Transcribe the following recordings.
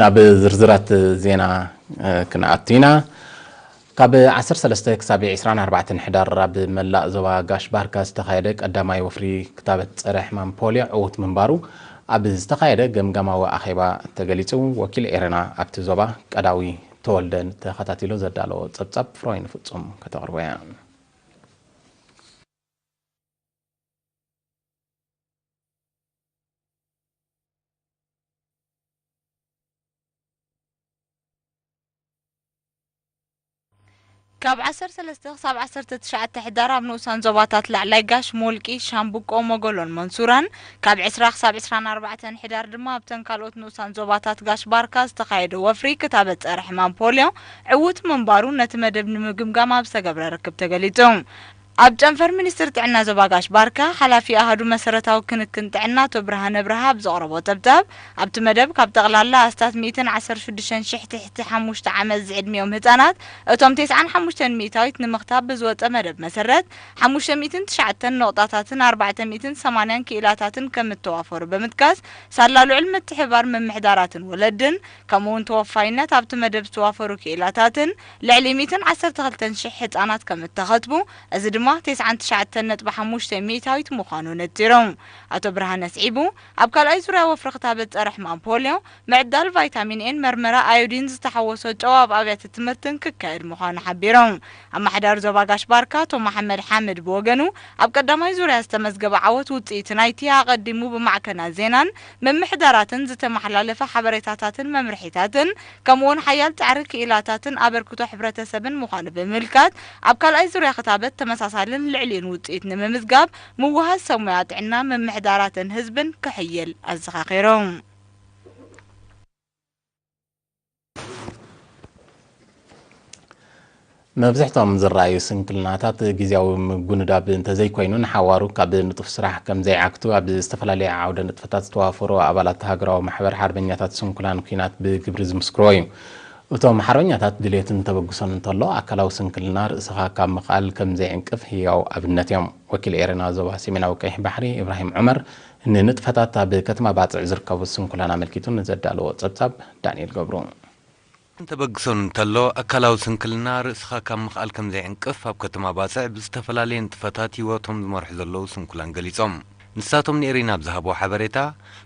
ናብ ዝርዝራት ዜና ክንኣቱ ኢና ካብ 13 ክሳብ 24 ኣርባዕተን ሕዳር ኣብ መላእ ዞባ ጋሽ ባርካ ዝተኻየደ ቀዳማይ ወፍሪ ክታበት ፀረ ሕማም ፖሊዮ ዕውት ምንባሩ ኣብ ዝተኻየደ ገምጋማዊ ኣኼባ ተገሊፁ። ወኪል ኤረና ኣብቲ ዞባ ቀዳዊ ተወልደ ተኸታቲሉ ዘዳለዎ ፀብፃብ ፍሮይን ፍፁም ከተቕርቦ እያ። ፕረዚደንት ኢትዮጵያ ዶክተር ኣቢይ ኣሕመድ ምስ ፕረዚደንት ኬንያ ዊልያም ሩቶ ኣብ ዶሃ ዛላንበሳ ተራኺቦም። ካብ ዓሰርተ ሰለስተ ክሳብ ዓሰርተ ትሽዓተ ሕዳር ኣብ ንኡሳን ዞባታት ላዕላይ ጋሽ፣ ሞልቂ፣ ሻምብቆ፣ ሞጎሎን መንሱራን፣ ካብ ዕስራ ክሳብ ዕስራን ኣርባዕተን ሕዳር ድማ ኣብተን ካልኦት ንኡሳን ዞባታት ጋሽ ባርካ ዝተኻየደ ወፍሪ ክታበት ጸረ-ሕማም ፖልዮ ዕዉት ምንባሩ ነቲ መደብ ንምግምጋም ኣብ ዝተገብረ ርክብ ተገሊጹ። ኣብ ጨንፈር ሚኒስትሪ ጥዕና ዞባ ጋሽ ባርካ ሓላፊ ኣሃዱ መሰረታዊ ክንክን ጥዕና ኣቶ ብርሃነ ብርሃ ኣብ ዘቕረቦ ጸብጻብ፣ ኣብቲ መደብ ካብ ጠቕላላ ኣስታት ሚእትን ዓሰርተ ሽዱሽተን ሽሕ ትሕቲ ሓሙሽተ ዓመት ዝዕድሚኦም ህጻናት እቶም ቴስዓን ሓሙሽተን ሚእታዊት ንምኽታብ ብዝወጸ መደብ መሰረት ሓሙሽተ ሚእትን ትሽዓተን ነቑጣታትን ኣርባዕተ ሚእትን ሰማንያን ክኢላታትን ከምእተዋፈሩ ብምጥቃስ ሳላ ልዑል ምትሕብባር ምምሕዳራትን ወለድን ከምኡ'ውን ተወፋይነት ኣብቲ መደብ ዝተዋፈሩ ክኢላታትን ልዕሊ ሚእትን ዓሰርተ ክልተን ሽሕ ህጻናት ከም እተኸትቡ፣ እዚ ድማ ተስዓን ትሽዓተን ነጥቢ ሓሙሽተ ሚእታዊት ምዃኑ ነጺሩ። ኣቶ ብርሃነ ኣስዒቡ፣ ኣብ ካልኣይ ዙርያ ወፍሪ ክታበት ጸረ-ሕማም ፖልዮ፣ ምዕዳል ቫይታሚን ኤን መርመራ ኣዮዲን ዝተሓወሶ ጨው ኣብ ኣብያተ ትምህርትን ክካየድ ምዃኑ ሓቢሩ። ኣማሓዳሪ ዞባ ጋሽ ባርካ ኣቶ መሓመድ ሓምድ ብወገኑ፣ ኣብ ቀዳማይ ዙርያ ዝተመዝገበ ዓወት ውጽኢት ናይቲ ኣቐዲሙ ብማዕከናት ዜናን ምምሕዳራትን ዝተመሓላለፈ ሓበሬታታትን መምርሒታትን ከምኡውን ሓያል ጻዕሪ ክኢላታትን ኣበርክቶ ሕብረተሰብን ምዃኑ ብምምልካት፣ ኣብ ካልኣይ ዙርያ ክታበት ተመሳሳልን ልዕሊኡን ውጽኢት ንምምዝጋብ ምውህሃዝ ሰብ ሞያ ጥዕና፣ ምምሕዳራትን ህዝብን ክሕይል ኣዘኻኺሮም። መብዝሕቶም ዝረኣዩ ስንክልናታት ግዜያዊ ምጉንዳብ እንተዘይኮይኑ ንሓዋሩ ካብ ንጡፍ ስራሕ ከምዘይዓግቱ ኣብ ዝተፈላለየ ዓውደ ንጥፈታት ዝተዋፈሩ ኣባላት ሃገራዊ ማሕበር ሓርበኛታት ስንኩላን ኩናት ብግብሪ ዝምስክርዎ እዩ። እቶም ሓርበኛታት ድሌትን ተበግሶን እንተሎ ኣካላዊ ስንክልና ርእስኻ ካብ ምኽኣል ከምዘይዕንቅፍ ህያው ኣብነት እዮም። ወኪል ኤረና ዞባ ሰሜናዊ ቀይሕ ባሕሪ ኢብራሂም ዑመር ንንጥፈታት ኣብ ከተማ ባጽዕ ዝርከቡ ስንኩላን ኣመልኪቱ ንዘዳለዎ ጸብጻብ ዳንኤል ገብሩ። ሕማም ተበግሶ እንተሎ ኣካላዊ ስንክልና ርእስኻ ካብ ምኽኣል ከምዘይዕንቅፍ ኣብ ከተማ ባጽዕ ብዝተፈላለየ ንጥፈታት ህይወቶም ዝመርሑ ዘለዉ ስንኩላን ገሊጾም። ንሳቶም ንኤሪና ኣብ ዝሃብዎ ሓበሬታ፣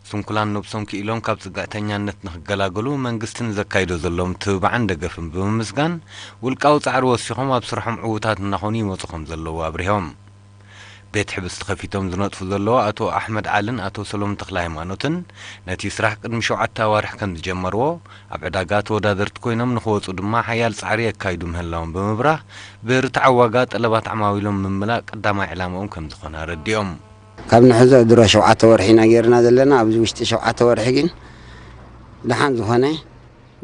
ስንኩላን ነብሶም ክኢሎም ካብ ጽግዕተኛነት ንኽገላገሉ መንግስቲ ንዘካይዶ ዘሎ ምትብባዕን ደገፍን ብምምስጋን ውልቃዊ ጻዕሪ ወሲኾም ኣብ ስርሖም ዕዉታት እናኾኑ ይመጹ ከምዘለዉ ኣብሪሆም። ቤት ሕብስቲ ከፊቶም ዝነጥፉ ዘለዉ ኣቶ ኣሕመድ ዓልን ኣቶ ሰሎሙን ተክለሃይማኖትን ነቲ ስራሕ ቅድሚ ሸውዓተ ኣዋርሕ ከምዝጀመርዎ ኣብ ዕዳጋ ተወዳደርቲ ኮይኖም ንክወፁ ድማ ሓያል ፃዕሪ የካይዱ ምህላዎም ብምብራህ ብርትዓዊ ዋጋ ጠለባት ዓማዊሎም ምምላእ ቀዳማይ ዕላምኦም ከምዝኾነ ኣረዲኦም። ካብ ንሕዞ ድሮ ሸውዓተ ወርሒ ኢና ገይርና ዘለና፣ ኣብዚ ውሽጢ ሸውዓተ ወርሒ ግን ደሓን ዝኾነ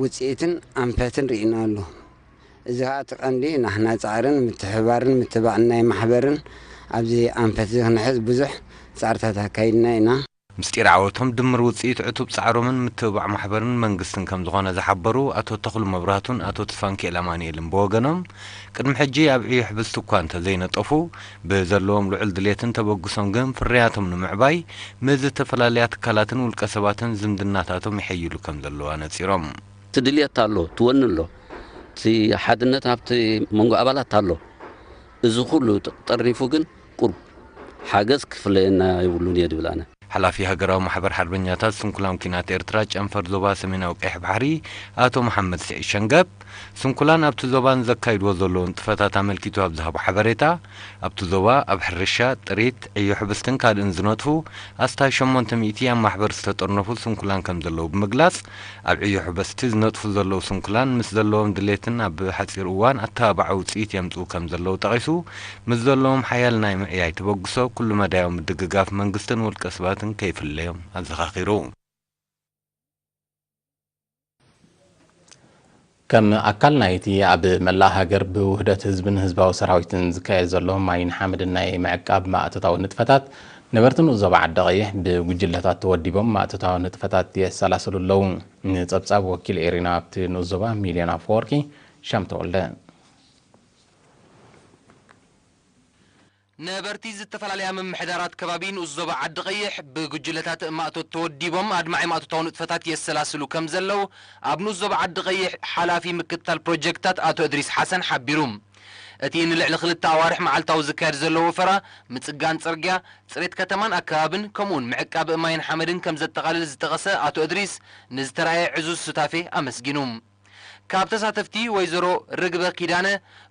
ውፅኢትን ኣንፈትን ርኢናሉ። እዚ ከኣ እቲ ቀንዲ ናህና ጻዕርን ምትሕብባርን ምትባዕን ናይ ማሕበርን ኣብዚ ኣንፈትዚ ክንሕዝ ብዙሕ ጻዕርታት ኣካይድና ኢና። ምስጢር ዓወቶም ድምር ውጽኢት ዕቱብ ጻዕሮምን ምትብባዕ ማሕበርን መንግስትን ከም ዝኾነ ዝሓበሩ ኣቶ ተኽሉ መብራህቱን ኣቶ ተስፋንኪኤል ኣማንኤልን ብወገኖም ቅድሚ ሕጂ ኣብ ዕዮ ሕብስቲ እኳ እንተ ዘይነጠፉ ብዘለዎም ልዑል ድሌትን ተበግሶን ግን ፍርያቶም ንምዕባይ ምስ ዝተፈላለያ ትካላትን ውልቀ ሰባትን ዝምድናታቶም የሐይሉ ከም ዘለዉ ኣነጺሮም። እቲ ድልየት ኣሎ፣ እቲ ወኒ ኣሎ፣ እቲ ሓድነት ኣብቲ መንጎ ኣባላት ኣሎ። እዚ ኩሉ ጠርኒፉ ግን ቁሩብ ሓገዝ ክፍለየና የብሉን እየ ዝብል ኣነ። ሓላፊ ሃገራዊ ማሕበር ሓርበኛታት ስንኩላን ኲናት ኤርትራ ጨንፈር ዞባ ሰሜናዊ ቀይሕ ባሕሪ ኣቶ መሓመድ ስዒድ ሸንገብ፣ ስንኩላን ኣብቲ ዞባ ንዘካይድዎ ዘለዉ ንጥፈታት ኣመልኪቱ ኣብ ዝሃቦ ሓበሬታ፣ ኣብቲ ዞባ ኣብ ሕርሻ፣ ጥሪት፣ ዕዮ ሕብስትን ካልእን ዝነጥፉ ኣስታት ሸሞንተ ሚእቲ ኣብ ማሕበር ዝተጠርነፉ ስንኩላን ከምዘለዉ ብምግላጽ፣ ኣብ ዕዮ ሑበስቲ ዝነጥፉ ዘለዉ ስንኩላን ምስ ዘለዎም ድሌትን ኣብ ሓጺር እዋን ኣተባባዒ ውጽኢት የምጽኡ ከም ዘለዉ ጠቒሱ፣ ምስ ዘለዎም ሓያል ናይ ምዕያይ ተበግሶ ኩሉ መዳያዊ ምድግጋፍ መንግስትን ውልቀ ሰባትን ከይፍለዮም ኣዘኻኺሩ። ከም ኣካል ናይ'ቲ ኣብ መላእ ሃገር ብውህደት ህዝብን ህዝባዊ ሰራዊትን ዝካየድ ዘሎ ማይን ሓመድን ናይ ምዕቃብ ማእቶታዊ ንጥፈታት፣ ነበርቲ ንኡስ ዞባ ዓዲ-ቐይሕ ብጉጅለታት ተወዲቦም ማእቶታዊ ንጥፈታት የሰላስሉ ኣለዉ። ንጸብጻብ ወኪል ኤሪና ኣብቲ ንኡስ ዞባ ሚልዮን ኣፈወርቂ፣ ሻም ተወልደ። ነበርቲ ዝተፈላለያ ምምሕዳራት ከባቢ ንኡስ ዞባ ዓዲ-ቐይሕ፣ ብጉጅለታት ማእቶት ተወዲቦም ኣድማዒ ማእቶታዊ ንጥፈታት የሰላስሉ ከምዘለው፣ ኣብ ንኡስ ዞባ ዓዲ-ቐይሕ ሓላፊ ምክትታል ፕሮጀክትታት ኣቶ እድሪስ ሓሰን ሓቢሩ። እቲ ንልዕሊ ክልተ ኣዋርሕ መዓልታዊ ዝካየድ ዘሎ ወፈራ፣ ምጽጋን ጽርግያ፣ ጽሬት ከተማን ኣከባብን፣ ከምኡ'ውን ምዕቃብ ማይን ሓመድን ከምዘጠቓልል ዝጠቐሰ ኣቶ እድሪስ፣ ንዝተራእየ ዕዙዝ ሱታፌ ኣመስጊኑ። ካብ ተሳተፍቲ ወይዘሮ ርግበ ኪዳነ፣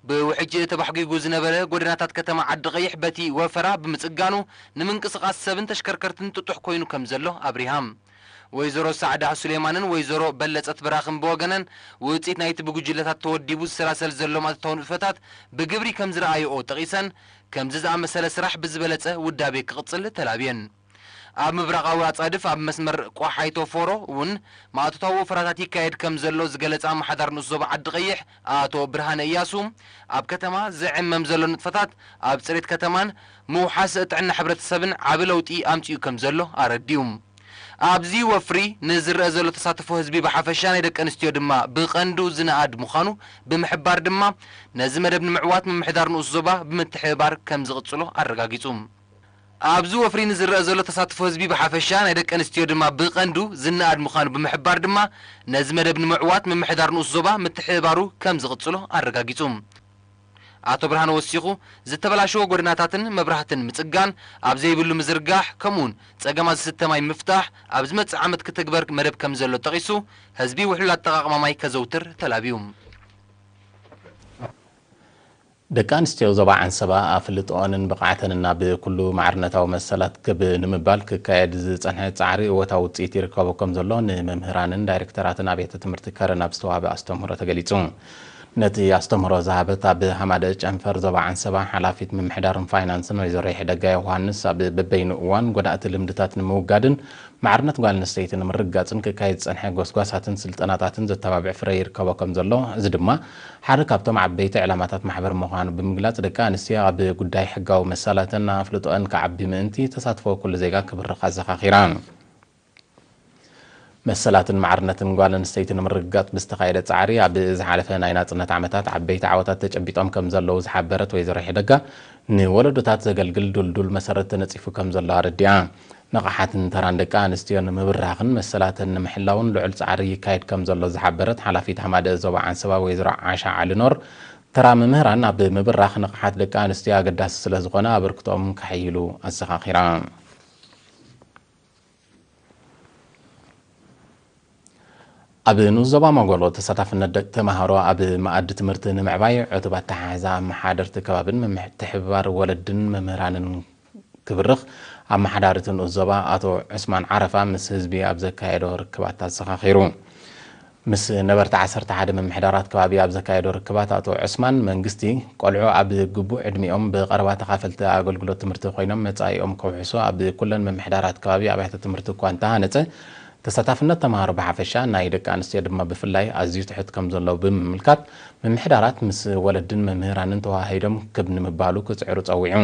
ብውሕጅ ተባሕጒጉ ዝነበረ ጎደናታት ከተማ ዓዲቐይሕ በቲ ወፈራ ብምጽጋኑ ንምንቅስቓስ ሰብን ተሽከርከርትን ጥጡሕ ኮይኑ ከምዘሎ ኣብሪሃ። ወይዘሮ ሳዕዳ ሱሌማንን ወይዘሮ በለጸት ብራኽን ብወገነን፣ ውጽኢት ናይቲ ብጉጅለታት ተወዲቡ ዝሰላሰል ዘሎ መእተታዊ ንጥፈታት ብግብሪ ከምዝረኣይኦ ጠቒሰን፣ ከምዚ ዝኣመሰለ ስራሕ ብዝበለጸ ውዳቤ ክቕጽል ተላብየን። ኣብ ምብራቓዊ ኣጻድፍ ኣብ መስመር ቆሓይቶ-ፎሮ እውን ማእቶታዊ ወፈራታት ይካየድ ከምዘሎ ዝገለጸ ኣማሓዳሪ ንኡስ ዞባ ዓዲ-ቐይሕ ኣቶ ብርሃነ እያሱ፣ ኣብ ከተማ ዝዕመም ዘሎ ንጥፈታት ኣብ ጽሬት ከተማን ምውሓስ ጥዕና ሕብረተሰብን ዓቢ ለውጢ ኣምጺኡ ከምዘሎ ኣረዲኡ። ኣብዚ ወፍሪ ንዝረኣ ዘሎ ተሳትፎ ህዝቢ ብሓፈሻ ናይ ደቂ ኣንስትዮ ድማ ብቐንዱ ዝነኣድ ምዃኑ ብምሕባር ድማ ነዚ መደብ ንምዕዋት ምምሕዳር ንኡስ ዞባ ብምትሕብባር ከምዝቕጽሎ ኣረጋጊጹ። ኣብዚ ወፍሪ ንዝረኣ ዘሎ ተሳትፎ ህዝቢ ብሓፈሻ ናይ ደቂ ኣንስትዮ ድማ ብቐንዱ ዝነኣድ ምዃኑ ብምሕባር ድማ ነዚ መደብ ንምዕዋት ምምሕዳር ንኡስ ዞባ ምትሕብባሩ ከም ዝቕጽሎ ኣረጋጊጹ። ኣቶ ብርሃነ ወሲኹ፣ ዝተበላሸወ ጎደናታትን መብራህትን ምጽጋን፣ ኣብ ዘይብሉ ምዝርጋሕ፣ ከምኡ'ውን ጸገማት ዝስተ ማይ ምፍታሕ ኣብ ዝመጽእ ዓመት ክትግበር መደብ ከም ዘሎ ጠቒሱ፣ ህዝቢ ውሕሉል ኣጠቓቕማ ማይ ከዘውትር ተላብዩ። ደቂ ኣንስትዮ ዞባ ዓንሰባ ኣፍልጥኦንን ብቕዓተንን ናብ ኩሉ ማዕርነታዊ መሰላት ክብ ንምባል ክካየድ ዝጸንሐ ጻዕሪ እወታዊ ውጽኢት ይርከቦ ከምዘሎ ንመምህራንን ዳይረክተራትን ኣብያተ ትምህርቲ ከረን ኣብ ዝተዋህበ ኣስተምህሮ ተገሊጹ። ነቲ ኣስተምህሮ ዝሃበት ኣብ ሃማደኤ ጨንፈር ዞባ ዓንሰባ ሓላፊት ምምሕዳርን ፋይናንስን ወይዘሮ ይሕደጋ ዮውሃንስ ኣብ በበይኑ እዋን ጎዳእቲ ልምድታት ንምውጋድን ማዕርነት ጓል ኣንስተይቲ ንምርግጋጽን ክካየድ ዝጸንሐ ጎስጓሳትን ስልጠናታትን ዘተባብዕ ፍረ ይርከቦ ከምዘሎ እዚ ድማ ሓደ ካብቶም ዓበይቲ ዕላማታት ማሕበር ምዃኑ ብምግላጽ፣ ደቂ ኣንስትዮ ኣብ ጉዳይ ሕጋዊ መሰላተን ኣፍልጦኣን ክዓቢ ምእንቲ፣ ተሳትፎ ኩሉ ዜጋ ክብርኽ ኣዘኻኺራ። መሰላትን ማዕርነትን ጓል ኣንስተይቲ ንምርግጋጽ ብዝተኻየደ ጻዕሪ፣ ኣብ ዝሓለፈ ናይ ናጽነት ዓመታት ዓበይቲ ዓወታት ተጨቢጦም ከምዘለዉ ዝሓበረት ወይዘሮ ሒደጋ፣ ንወለዶታት ዘገልግል ድልዱል መሰረት ተነጺፉ ከምዘሎ ኣረዲኣ። ንቕሓትን ተራን ደቂ ኣንስትዮ ንምብራኽን መሰላተን ንምሕላውን ልዑል ፃዕሪ ይካየድ ከምዘሎ ዝሓበረት ሓላፊት ሃማደኤ ዞባ ዓንሰባ ወይዘሮ ዓሻ ዓሊኖር፣ ተራ መምህራን ኣብ ምብራኽ ንቕሓት ደቂ ኣንስትዮ ኣገዳሲ ስለዝኾነ ኣበርክቶኦም ከሐይሉ ኣዘኻኺራ። ኣብ ንኡስ ዞባ መጎሎ ተሳታፍነት ደቂ ተምሃሮ ኣብ መኣዲ ትምህርቲ ንምዕባይ ዕቱብ ኣተሓሕዛ ኣመሓደርቲ ከባቢን ምምሕትሕብባር ወለድን መምህራንን ክብርኽ ኣመሓዳሪ እቲ ንኡስ ዞባ ኣቶ ዑስማን ዓረፋ ምስ ህዝቢ ኣብ ዘካየዶ ርክባት ኣዘኻኺሩ። ምስ ነበርቲ ዓሰርተ ሓደ ምምሕዳራት ከባቢ ኣብ ዘካየዶ ርክባት ኣቶ ዑስማን፣ መንግስቲ ቆልዑ ኣብ ግቡእ ዕድሚኦም ብቐረባ ተኻፈልቲ ኣገልግሎት ትምህርቲ ኮይኖም መጻኢኦም ከውሕሱ ኣብ ኩለን ምምሕዳራት ከባቢ ኣብያተ ትምህርቲ እኳ እንተሃነጸ ተሳታፍነት ተማሃሮ ብሓፈሻ ናይ ደቂ ኣንስትዮ ድማ ብፍላይ ኣዝዩ ትሑት ከምዘሎ ብምምልካት ምምሕዳራት ምስ ወለድን መምህራንን ተወሃሂዶም ክብ ንምባሉ ክጽዕሩ ጸዊዑ።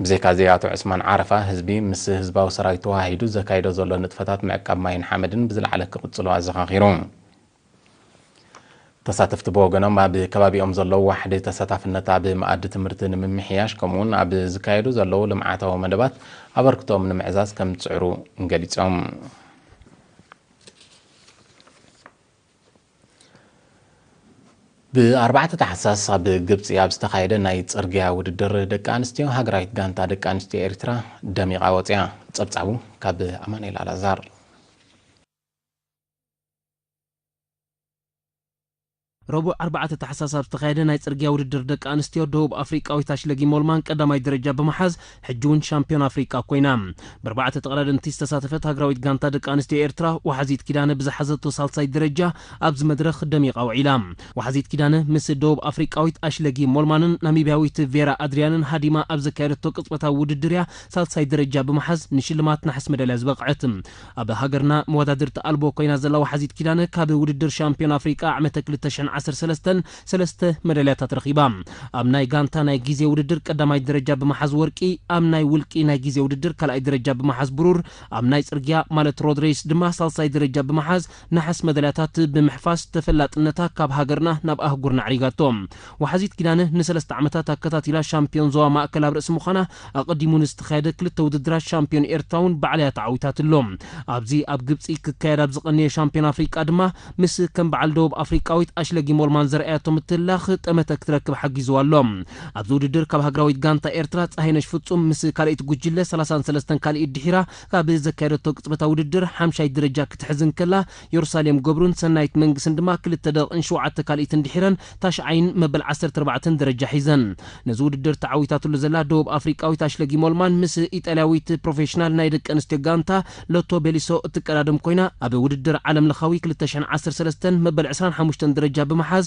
ብዘይካ'ዚ ኣቶ ዑስማን ዓረፋ፣ ህዝቢ ምስ ህዝባዊ ሰራዊት ተወሃሂዱ ዘካይዶ ዘሎ ንጥፈታት ምዕቃብ ማይን ሓመድን ብዝለዓለ ክቕጽሎ ኣዘኻኺሩ። ተሳተፍቲ ብወገኖም፣ ኣብ ከባቢኦም ዘሎ ዋሕዲ ተሳታፍነት ኣብ መኣዲ ትምህርቲ ንምምሕያሽ ከምኡ'ውን ኣብ ዝካየዱ ዘለዉ ልምዓታዊ መደባት ኣበርክቶኦም ንምዕዛዝ ከምዝጽዕሩ ገሊጾም። ብኣርባዕተ ታሕሳስ ኣብ ግብፂ ኣብ ዝተኻየደ ናይ ፅርግያ ውድድር ደቂ ኣንስትዮ ሃገራዊት ጋንታ ደቂ ኣንስትዮ ኤርትራ ደሚቓ ወፂኣ። ፀብፃቡ ካብ ኣማኑኤል ኣልኣዛር። ረቡዕ ኣርባዕተ ታሕሳስ ኣብ ዝተኻየደ ናይ ፅርግያ ውድድር ደቂ ኣንስትዮ ደቡብ ኣፍሪቃዊት ኣሽለጊ ሞልማን ቀዳማይ ደረጃ ብምሓዝ ሕጂ እውን ሻምፕዮን ኣፍሪቃ ኮይና ብኣርባዕተ ተቐዳደምቲ ዝተሳተፈት ሃገራዊት ጋንታ ደቂ ኣንስትዮ ኤርትራ ወሓዚት ኪዳነ ብዝሓዘቶ ሳልሳይ ደረጃ ኣብዚ መድረኽ ደሚቓ ውዒላ። ወሓዚት ኪዳነ ምስ ደቡብ ኣፍሪቃዊት ኣሽለጊ ሞልማንን ናሚብያዊት ቬራ ኣድርያንን ሃዲማ ኣብ ዘካየደቶ ቅጽበታዊ ውድድር እያ ሳልሳይ ደረጃ ብምሓዝ ንሽልማት ነሓስ መዳልያ ዝበቕዐት። ኣብ ሃገርና መወዳድርቲ ኣልቦ ኮይና ዘላ ወሓዚት ኪዳነ ካብ ውድድር ሻምፕዮን ኣፍሪቃ ዓመተ ክልተ ሽሕን ዓሰርተ ሰለስተን ሰለስተ መዳልያታት ረኺባ። ኣብ ናይ ጋንታ ናይ ግዜ ውድድር ቀዳማይ ደረጃ ብመሓዝ ወርቂ፣ ኣብ ናይ ውልቂ ናይ ግዜ ውድድር ካልኣይ ደረጃ ብመሓዝ ብሩር፣ ኣብ ናይ ጽርግያ ማለት ሮድ ሬይስ ድማ ሳልሳይ ደረጃ ብምሓዝ ነሓስ መዳልያታት ብምሕፋስ ተፈላጥነታ ካብ ሃገርና ናብ ኣህጉርና ኣዕሪጋቶ። ወሓዚት ኪዳነ ንሰለስተ ዓመታት ኣከታቲላ ሻምፕዮን ዞባ ማእከል ኣብ ርእሲ ምዃና ኣቐዲሙ ንዝተኻየደ ክልተ ውድድራት ሻምፕዮን ኤርትራ እውን ባዕላ'ያ ተዓዊታትሉ። ኣብዚ ኣብ ግብጺ ክካየድ ኣብ ዝቐነየ ሻምፕዮን ኣፍሪቃ ድማ ምስ ከም በዓል ደቡብ ኣፍሪቃዊት ኣሽለጊ ሞልማን ዘርኣያቶ ምትህልላኽ ጠመተ ክትረክብ ሓጊዝዋ ኣሎ። ኣብዚ ውድድር ካብ ሃገራዊት ጋንታ ኤርትራ ጸሃይነሽ ፍጹም ምስ ካልኣይቲ ጉጅለ ሰላሳን ሰለስተን ካልኢት ድሒራ ካብ ዘካየደቶ ቅጽበታዊ ውድድር ሓምሻይ ደረጃ ክትሕዝ እንከላ፣ ዮርሳሌም ገብሩን ሰናይት መንግስን ድማ ክልተ ደቕን ሸውዓተ ካልኢትን ድሒረን ታሽዓይን መበል ዓሰርተ ኣርባዕተን ደረጃ ሒዘን። ነዚ ውድድር ተዓዊታትሉ ዘላ ደቡብ ኣፍሪቃዊት ኣሽለጊ ሞልማን ምስ ኢጣልያዊት ፕሮፌሽናል ናይ ደቂ ኣንስትዮ ጋንታ ሎቶ ቤሊሶ እትቀዳደም ኮይና ኣብ ውድድር ዓለምለኻዊ ክልተ ሽሕን ዓሰርተ ሰለስተን መበል ዕስራን ሓሙሽተን ደረጃ ብምሓዝ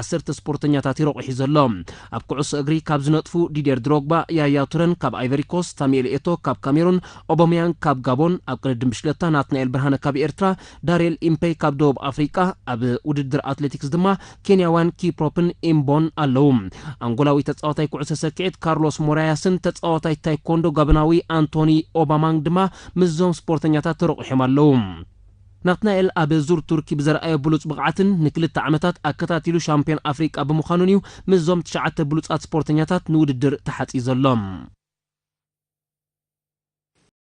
ዓሰርተ ስፖርተኛታት እዩ ረቝሒ ዘሎ። ኣብ ኩዕሶ እግሪ ካብ ዝነጥፉ ዲድየር ድሮግባ፣ ያያ ቱረን ካብ ኣይቨሪኮስት፣ ሳሙኤል ኤቶ ካብ ካሜሩን፣ ኦቦምያንግ ካብ ጋቦን፣ ኣብ ቅድድም ብሽክለታ ናትናኤል ብርሃነ ካብ ኤርትራ፣ ዳርየል ኢምፐይ ካብ ደቡብ ኣፍሪቃ፣ ኣብ ውድድር ኣትሌቲክስ ድማ ኬንያውያን ኪፕሮፕን ኢምቦን ኣለዉ። ኣንጎላዊ ተጻዋታይ ኩዕሶ ሰኪዔት ካርሎስ ሞራያስን ተጻዋታይ ታይኮንዶ ጋቦናዊ ኣንቶኒ ኦባማንግ ድማ ምስዞም ስፖርተኛታት ተረቝሒም ኣለዉ። ናትናኤል ኣብ ዙር ቱርኪ ብዘርኣዮ ብሉጽ ብቕዓትን ንክልተ ዓመታት ኣከታቲሉ ሻምፕዮን ኣፍሪቃ ብምዃኑን እዩ ምስዞም ትሽዓተ ብሉጻት ስፖርተኛታት ንውድድር ተሓጽዩ ዘሎ።